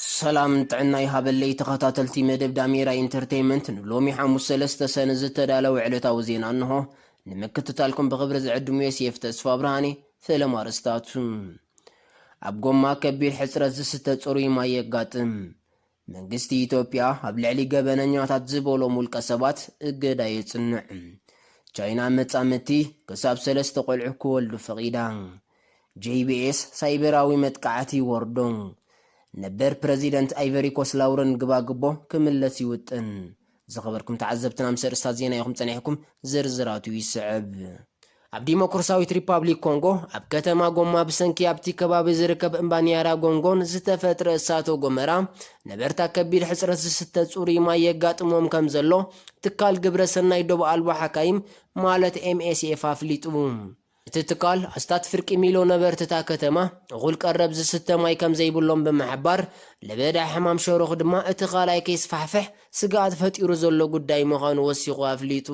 ሰላም ጥዕና ይሃበለይ ተኸታተልቲ መደብ ዳሜራ ኢንተርተይመንት ንሎሚ ሓሙስ ሰለስተ ሰነ ዝተዳለወ ዕለታዊ ዜና እንሆ ንምክትታልኩም ብኽብሪ ዝዕድም ዮሴፍ ተስፋብርሃንየ ፈለማ ኣርእስታቱ ኣብ ጎማ ከቢድ ሕፅረት ዝስተ ፅሩይ ማይ የጋጥም መንግስቲ ኢትዮጵያ ኣብ ልዕሊ ገበነኛታት ዝበሎም ውልቀ ሰባት እገዳ የፅንዕ ቻይና መፃምድቲ ክሳብ ሰለስተ ቆልዑ ክወልዱ ፈቒዳ JBS ሳይበራዊ መጥቃዕቲ ይወርዶን ነበር ፕረዚደንት ኣይቨሪኮስ ላውረን ግባግቦ ክምለስ ይውጥን። ዝኸበርኩም ተዓዘብትና ምስ ኣርእስታት ዜና ኢኹም ጸኒሕኩም፣ ዝርዝራቱ ይስዕብ። ኣብ ዲሞክርሳዊት ሪፓብሊክ ኮንጎ ኣብ ከተማ ጎማ ብሰንኪ ኣብቲ ከባቢ ዝርከብ እምባ ኒያራጎንጎን ዝተፈጥረ እሳተ ጎመራ ነበርታ ከቢድ ሕጽረት ዝስተ ጽሩይ ማይ የጋጥሞም ከም ዘሎ ትካል ግብረ ሰናይ ዶብ ኣልቦ ሓካይም ማለት MSF ኣፍሊጡ። እቲ ትካል፣ ኣስታት ፍርቂ ሚሎ ነበርቲ እታ ከተማ እኹል ቀረብ ዝስተ ማይ ከምዘይብሎም ብምሕባር፣ ለበዳ ሕማም ሸሮኽ ድማ እቲ ካልኣይ ከይስፋሕፍሕ ስግኣት ፈጢሩ ዘሎ ጉዳይ ምዃኑ ወሲኹ ኣፍሊጡ።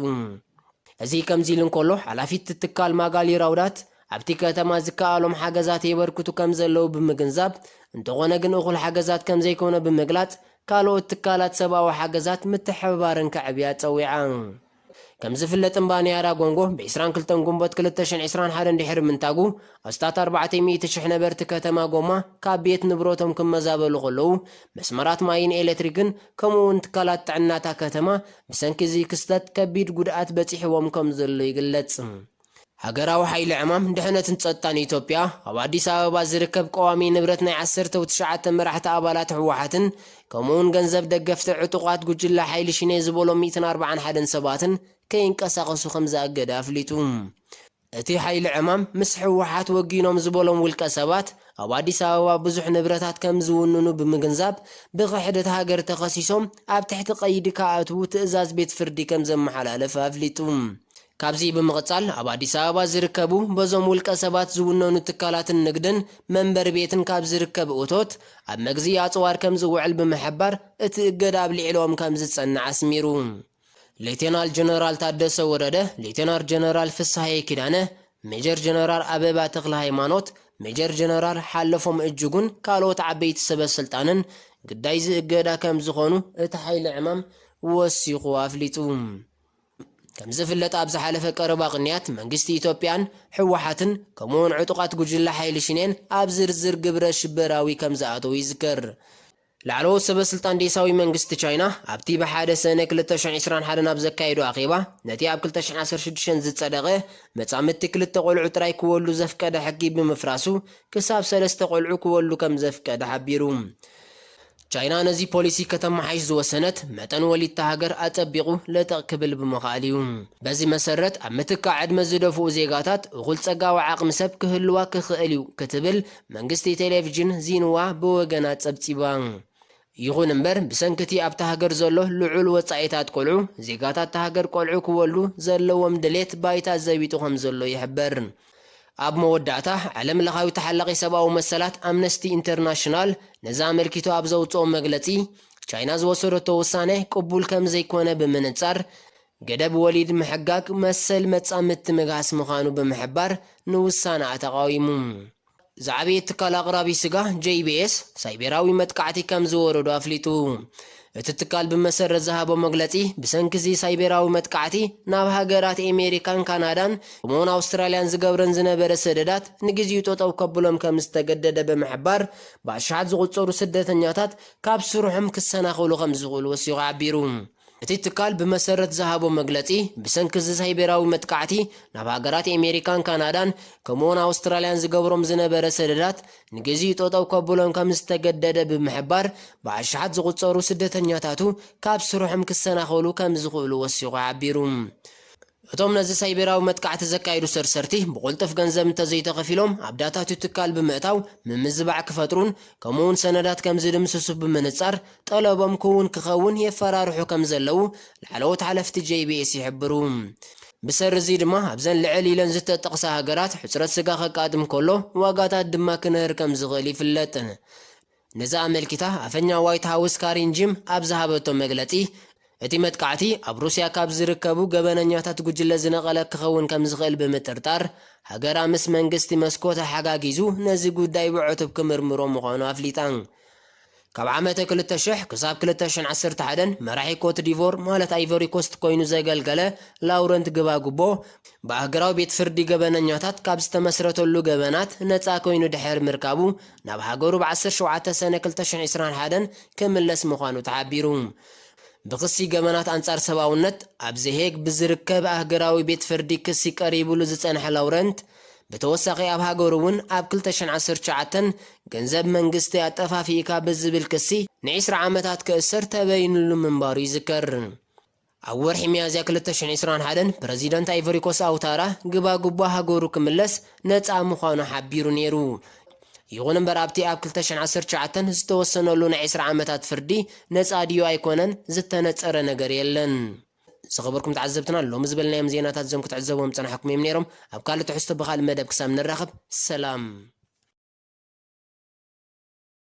እዚ ከምዚ ኢሉ እንከሎ፣ ሓላፊት እቲ ትካል ማጋሊ ራውዳት፣ ኣብቲ ከተማ ዝከኣሎም ሓገዛት የበርክቱ ከምዘለዉ ብምግንዛብ፣ እንተኾነ ግን እኹል ሓገዛት ከምዘይኮነ ብምግላጽ፣ ካልኦት ትካላት ሰብኣዊ ሓገዛት ምትሕብባረን ከዕብያ ጸዊዓ። ከም ዝፍለጥ እምባ ንያዳ ጎንጎ ብ ዕስራን ክልተን ጉንቦት ክልተ ሽሕን ዕስራን ሓደን ድሕሪ ምንታጉ ኣስታት ኣርባዕተ ሚእቲ ሽሕ ነበርቲ ከተማ ጎማ ካብ ቤት ንብረቶም ክመዛበሉ ከለዉ መስመራት ማይን ኤለትሪክን ከምኡ ውን ትካላት ጥዕና'ታ ከተማ ብሰንኪ እዚ ክስተት ከቢድ ጉድኣት በጺሕዎም ከም ዘሎ ይግለጽ። ሃገራዊ ሓይሊ ዕማም ድሕነትን ጸጥታን ኢትዮጵያ፣ ኣብ ኣዲስ ኣበባ ዝርከብ ቀዋሚ ንብረት ናይ ዓሰርተው ትሽዓተ መራሕቲ ኣባላት ህወሓትን ከምኡ'ውን ገንዘብ ደገፍቲ ዕጡቓት ጉጅለ ሓይሊ ሽኔ ዝበሎም ሚእትን ኣርብዓን ሓደን ሰባትን ከይንቀሳቐሱ ከምዝኣገደ ኣፍሊጡ። እቲ ሓይሊ ዕማም ምስ ህወሓት ወጊኖም ዝበሎም ውልቀ ሰባት፣ ኣብ ኣዲስ ኣበባ ብዙሕ ንብረታት ከምዝውንኑ ብምግንዛብ፣ ብክሕደት ሃገር ተኸሲሶም ኣብ ትሕቲ ቀይዲ ክኣትዉ ትእዛዝ ቤት ፍርዲ ከምዘመሓላለፈ ኣፍሊጡ። ካብዚ ብምቕፃል ኣብ ኣዲስ ኣበባ ዝርከቡ በዞም ውልቀ ሰባት ዝውነኑ ትካላትን ንግድን መንበሪ ቤትን ካብ ዝርከብ እቶት ኣብ መግዝኢ ኣፅዋር ከምዝውዕል ብምሕባር እቲ እገዳ ኣብ ልዕሊኦም ከምዝፀንዕ ኣስሚሩ። ሌቴናል ጀነራል ታደሰ ወረደ፣ ሌቴናር ጀነራል ፍስሃየ ኪዳነ፣ ሜጀር ጀነራል ኣበባ ተክለሃይማኖት፣ ሜጀር ጀነራል ሓለፎም እጅጉን ካልኦት ዓበይቲ ሰበስልጣንን ግዳይ'ዚ እገዳ ከምዝኾኑ እቲ ሓይሊ ዕማም ወሲኹ ኣፍሊጡ። ከምዝፍለጥ ኣብ ዝሓለፈ ቀረባ ቅንያት መንግስቲ ኢትዮጵያን ህወሓትን ከምኡ'ውን ዕጡቓት ጉጅለ ሓይሊ ሽኔን ኣብ ዝርዝር ግብረ ሽበራዊ ከምዝኣተዉ ይዝከር። ላዕለዎት ሰበስልጣን ዴሳዊ መንግስቲ ቻይና ኣብቲ ብ ሓደ ሰነ ክልተ ሽሕ ዕስራን ሓደን ኣብ ዘካየዶ ኣኼባ ነቲ ኣብ ክልተ ሽሕ ዓሰርተ ሽዱሽተ ዝጸደቐ መጻምድቲ ክልተ ቆልዑ ጥራይ ክወልዱ ዘፍቀደ ሕጊ ብምፍራሱ ክሳብ ሰለስተ ቆልዑ ክወልዱ ከምዘፍቀደ ሓቢሩ። ቻይና ነዚ ፖሊሲ ከተመሓይሽ ዝወሰነት፣ መጠን ወሊድ'ታ ሃገር ኣጸቢቑ ለጠቕ ክብል ብምኽኣሉ'ዩ። በዚ መሰረት፣ ኣብ ምትካእ ዕድመ ዝደፍኡ ዜጋታት፣ እኹል ጸጋዊ ዓቕሚ ሰብ ክህልዋ ክኽእል'ዩ ክትብል መንግስቲ ቴሌቪዥን ዢንዋ ብወገና ጸብጺባ። ይኹን እምበር፣ ብሰንኪ'ቲ ኣብታ ሃገር ዘሎ ልዑል ወጻኢታት ቆልዑ፣ ዜጋታት'ታ ሃገር ቆልዑ ክወልዱ ዘለዎም ድሌት ባይታ ዘቢጡ ከምዘሎ ይሕበር። ኣብ መወዳእታ፣ ዓለምለኻዊ ተሓላቒ ሰብኣዊ መሰላት ኣምነስቲ ኢንተርናሽናል ነዚ ኣመልኪቱ ኣብ ዘውጽኦ መግለጺ፣ ቻይና ዝወሰደቶ ውሳነ ቅቡል ከም ዘይኮነ ብምንጻር፣ ገደብ ወሊድ ምሕጋግ መሰል መጻምድቲ ምግሃስ ምዃኑ ብምሕባር ንውሳነኣ ተቓዊሙ። ዝዓበየ ትካል ኣቕራቢ ስጋ JBS ሳይቤራዊ መጥቃዕቲ ከም ዝወረዶ ኣፍሊጡ። እቲ ትካል ብመሰረት ዝሃቦ መግለጺ ብሰንኪ እዚ ሳይቤራዊ መጥቃዕቲ ናብ ሃገራት ኤሜሪካን ካናዳን ከምኡ'ውን ኣውስትራልያን ዝገብረን ዝነበረ ሰደዳት ንግዚኡ ጠጠው ከብሎም ከም ዝተገደደ ብምሕባር ብኣሽሓት ዝቑጸሩ ስደተኛታት ካብ ስርሖም ክሰናኸሉ ከም ዝኽእሉ ወሲኹ ሓቢሩ። እቲ ትካል ብመሰረት ዝሃቦ መግለጺ፣ ብሰንኪ እዚ ሳይቤራዊ መጥቃዕቲ፣ ናብ ሃገራት ኤሜሪካን ካናዳን ከምኡ'ውን ኣውስትራልያን ዝገብሮም ዝነበረ ሰደዳት ንግዚኡ ጠጠው ከብሎን ከምዝተገደደ ብምሕባር፣ ብኣሽሓት ዝቑጸሩ ስደተኛታቱ ካብ ስርሖም ክሰናኸሉ ከምዝኽእሉ ወሲኹ ሓቢሩ። እቶም ነዚ ሳይቤራዊ መጥቃዕቲ ዘካይዱ ሰርሰርቲ ብቕልጡፍ ገንዘብ እንተዘይተኸፊሎም ኣብ ዳታ'ቲ ትካል ብምእታው ምምዝባዕ ክፈጥሩን ከምኡ'ውን ሰነዳት ከምዝድምስሱ ብምንጻር ጠለቦም ክውን ክኸውን የፈራርሑ ከምዘለዉ ላዕለዎት ሓለፍቲ JBS ይሕብሩ። ብሰሪ'ዚ ድማ ኣብዘን ልዕል ኢለን ዝተጠቕሳ ሃገራት ሕጽረት ስጋ ከጋጥም ከሎ ዋጋታት ድማ ክንህር ከምዝኽእል ይፍለጥ። ነዚ ኣመልኪታ ኣፈኛ ዋይት ሃውስ ካሪን ጂም ኣብ ዝሃበቶ መግለጺ፣ እቲ መጥቃዕቲ ኣብ ሩስያ ካብ ዝርከቡ ገበነኛታት ጉጅለ ዝነቐለ ክኸውን ከም ዝኽእል ብምጥርጣር፣ ሃገራ ምስ መንግስቲ መስኮ ተሓጋጊዙ ነዚ ጉዳይ ብዕቱብ ክምርምሮ ምዃኑ ኣፍሊጣ። ካብ ዓመተ ክልተ ሽሕ ክሳብ ክልተ ሽሕን ዓሰርተ ሓደን መራሒ ኮትዲቮር ማለት ኣይቮሪኮስት ኮይኑ ዘገልገለ ላውረንት ግባግቦ፣ ብኣህግራዊ ቤት ፍርዲ ገበነኛታት ካብ ዝተመስረተሉ ገበናት ነጻ ኮይኑ ድሕሪ ምርካቡ፣ ናብ ሃገሩ ብ ዓሰርተ ሸውዓተ ሰነ ክልተ ሽሕ ዒስራን ሓደን ክምለስ ምዃኑ ተሓቢሩ። ብክሲ ገበናት ኣንጻር ሰብኣውነት ኣብ ዘ ሄግ ብዝርከብ ኣህገራዊ ቤት ፍርዲ ክሲ ቀሪብሉ ዝጸንሐ ላውረንት፣ ብተወሳኺ ኣብ ሃገሩ እውን ኣብ ክልተ ሽሕን ዓሰርተ ትሽዓተን ገንዘብ መንግስቲ ኣጠፋፊእካ ብዝብል ክሲ ንዒስራ ዓመታት ክእሰር ተበይንሉ ምንባሩ ይዝከር። ኣብ ወርሒ ሚያዝያ ክልተ ሽሕ ዒስራን ሓደን ፕረዚደንት ኣይቮሪኮስ ኣውታራ ግባግቦ ሃገሩ ክምለስ ነጻ ምዃኑ ሓቢሩ ነይሩ። ይኹን እምበር ኣብቲ ኣብ ክልተ ሽሕ ዓሰርተ ትሽዓተ ዝተወሰነሉ ናይ ዕስራ ዓመታት ፍርዲ ነጻ ድዩ ኣይኮነን ዝተነጸረ ነገር የለን። ዝኸበርኩም ተዓዘብትና ሎሚ ዝበልናዮም ዜናታት እዞም ክትዕዘብዎም ዝጸናሕኩም እዮም ነይሮም። ኣብ ካልእ ትሕዝቶ ብኻልእ መደብ ክሳብ ንራኸብ ሰላም።